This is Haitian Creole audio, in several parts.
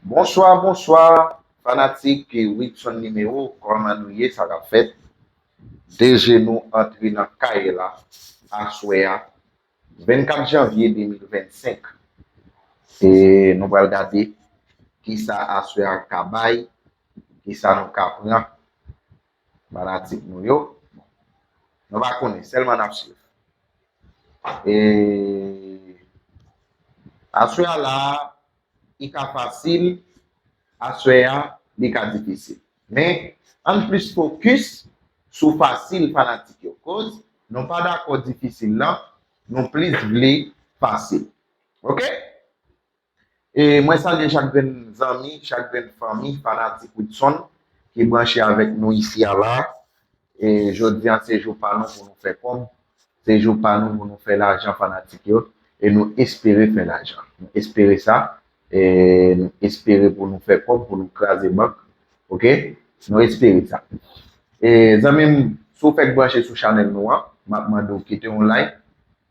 Bonswa bonswa fanatik widson nimewo kòman nou ye sa kap fèt DG nou antre nan kay la aswè a 24 janvye 2025 e nou pral gade kisa aswè a ka bay kisa nou ka pran. Fanatik nou yo. Nou pa konnen, sèlman nap swiv. E aswè a la a, li ka fasil, aswè a li ka difisil. Men, ann plis fokis sou fasil fanatik yo. Koz nou pa dakò difisil lan, nou plis vle fasil. Ok? Mwen salye chak grenn zanmi, chak grenn fanmi fanatik Widson ki branche avèk nou isi a la. Jodi an se jou pa nou pou nou fè kòb, se jou pa nou pou nou fè lajan fanatik yo e nou espere fè lajan. Nou espere sa, nou espere pou nou fè kòb, pou nou kraze bank. Ok, nou espere sa. Zanmi m, si w fèk branche sou chanèl nou an, m ap mande w kite yon like,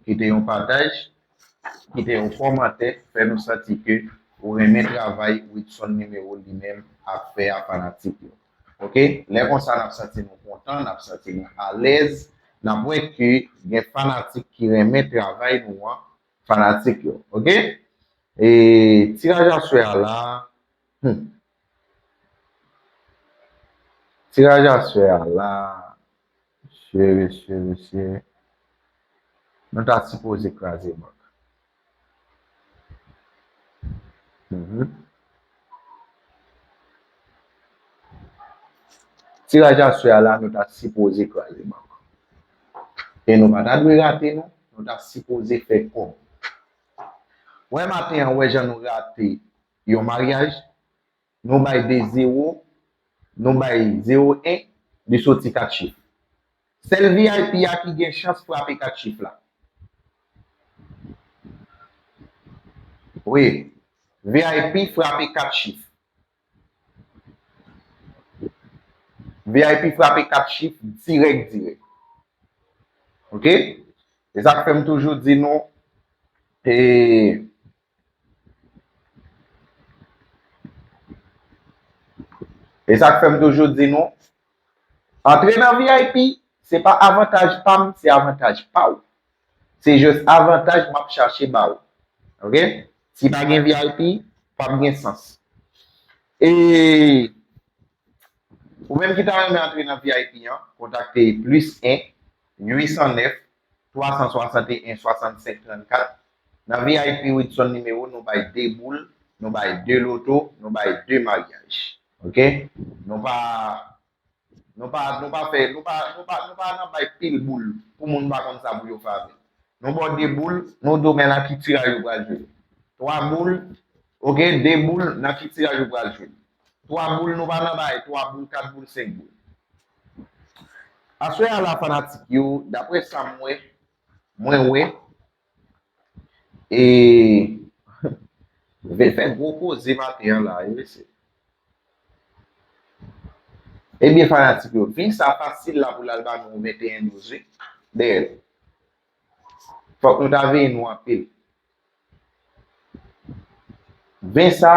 kite yon pataj. Kite yon kòmantè fè nou santi ke ou renmen travay Widson Numero li menm ap fè a fanatik yo ok lè konsa nap santi nou kontan nap santi nou alèz nap wè ke gen fanatik ki renmen travay nou an fanatik yo ok ee tiraj aswè a la Humm. Tiraj aswè a la mesye mesye mesye nou ta sipoze kraze bank humm. Tiraj aswè a la nou ta sipoze kraze bank e nou pa ta dwe rate non nou ta sipoze fè kòb wè maten an wè jan nou rate Yon maryaj, nou bay de zewo, nou bay zewo en, li soti 4 chif. Sèl vip a ki gen chans frape 4 chif la. Wi, vip frape 4 chif. Vip frape 4 chif dirèk dirèk. Ok? Se sa k fè m toujou di nou e. E sa k fè m toujou di nou, antre nan vip, se pa avantaj pa m, se avantaj pa ou. Se jis avantaj m ap chache ba ou. Ok? Si pa gen vip, p ap gen sans. E, ou menm ki ta renmen antre nan vip an, kontakte plis 1, 809, 361 65 34 Nan vip widson nimewo nou bay 2 boul nou bay 2 loto nou bay 2 maryaj ok nou pa nou pa nou pa fè nou pa nou pa nou pa nan bay pil boul pou moun pa konn sa pou yo fè avèl nou baw 2 boul nou diw men nan ki tiraj ou pral jwe 3 boul ok 2 boul nan ki tiraj ou pral jwe 3 boul nou pa nan bay 3 boul 4 boul 5 boul. Aswè a la fanatik yo daprè sa m wè mwen wè eeuhh fè gwo koze maten an la wi mesye. Ebyen fanatik yo vin sa fasil la pou l al ba nou 21 douz wi dèyèl. Fòk nou ta veye nou anpil. Vin sa.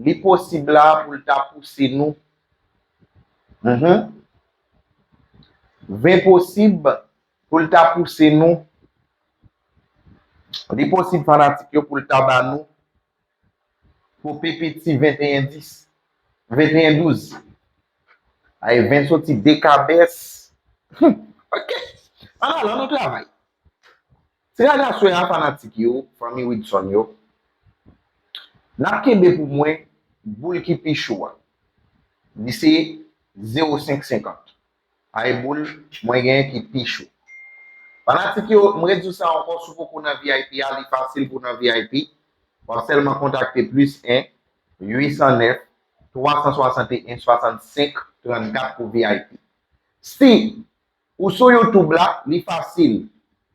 Li posib la pou l ta pouse nou. Mph. Vin posib pou l ta pouse nou. Li posib fanatik yo pou l ta ba nou. Pou pepeti 21 dis. 21 douz. Ay vin soti dekabès. Mph. Ok! An alan nou travay. Tiraj aswè a fanatik yo, fanmi Widson yo, nap kenbe pou mwen boul ki pi cho a. Li se 0 5 50. Ay boul mwen gen ki pi cho. Fanatik yo m rediw sa ankò si w poko nan vip a li fasil pou w nan vip wap sèlman kontakte plis 1 809 361 65 34 pou vip. Si Ou sou youtube la, li fasil.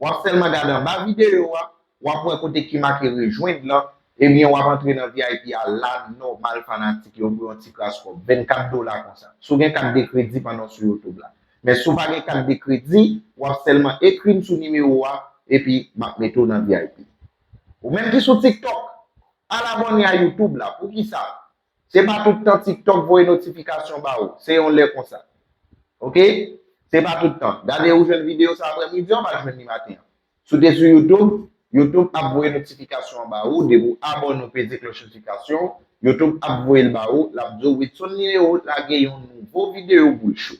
Wap sèlman gade anba videyo a, wap wè kote ki make rejwenn lan, ebyen wap antre nan vip a la nòmal fanatik yo pou yon ti kras kòb, 24 dola konsa. Si w gen kat de kredi pandan w sou youtube la. Men si w pa gen kat de kredi, wap sèlman ekri m sou nimewo a, epi map mete w nan vip. Ou menm ki sou tiktok, al abòne a youtube la, poukisa? Se pa tout tan tiktok voye notifikasyon ba ou. Se yon lè konsa. Ok? Se pa tout tan. Gade ou jwenn videyo sa aprè midi an ou pa jwenn li maten an. Si ou te sou youtube, youtube ap voye notifikasyon an ba ou depi ou abòne ou peze klòch notifikasyon, youtube ap voye l ba ou, l ap di ou Widson Lireo lage yon nouvo videyo boul chou.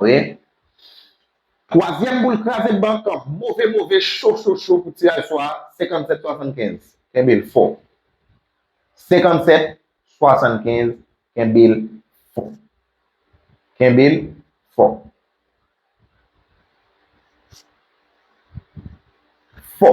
Oye Twazyèm boul kraze bank lan move move cho cho cho pou tiraj swa 57 75 kenbe l fò 57 75 kenbe l fò kenbe l fò fò.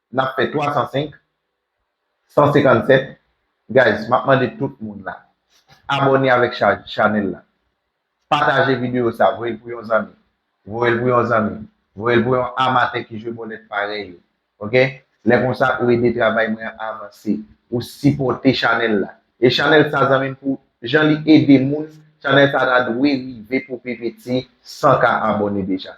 N ap fè 305, 157, guys m ap mande tout moun la abòne avèk chanèl la pataje videyo sa voye l pou yon zanmi voye l pou yon zanmi voye l pou yon amatè ki jwe bòlèt parèy ou ok lè konsa ou ede travay mwen an avanse ou sipòte chanèl la e chanèl sa zanmi m pou jan li ede moun chanèl sa ta dwe rive pou pi piti 100 k abòne deja.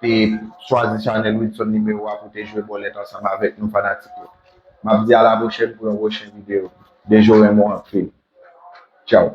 te chwazi chanèl Wilson Numéro a pou te jwe bòlèt ansanm avèk nou fanatik yo. Map di a la pwochèn pou yon pwochen video. Dejo renmen w anpil. Tchao.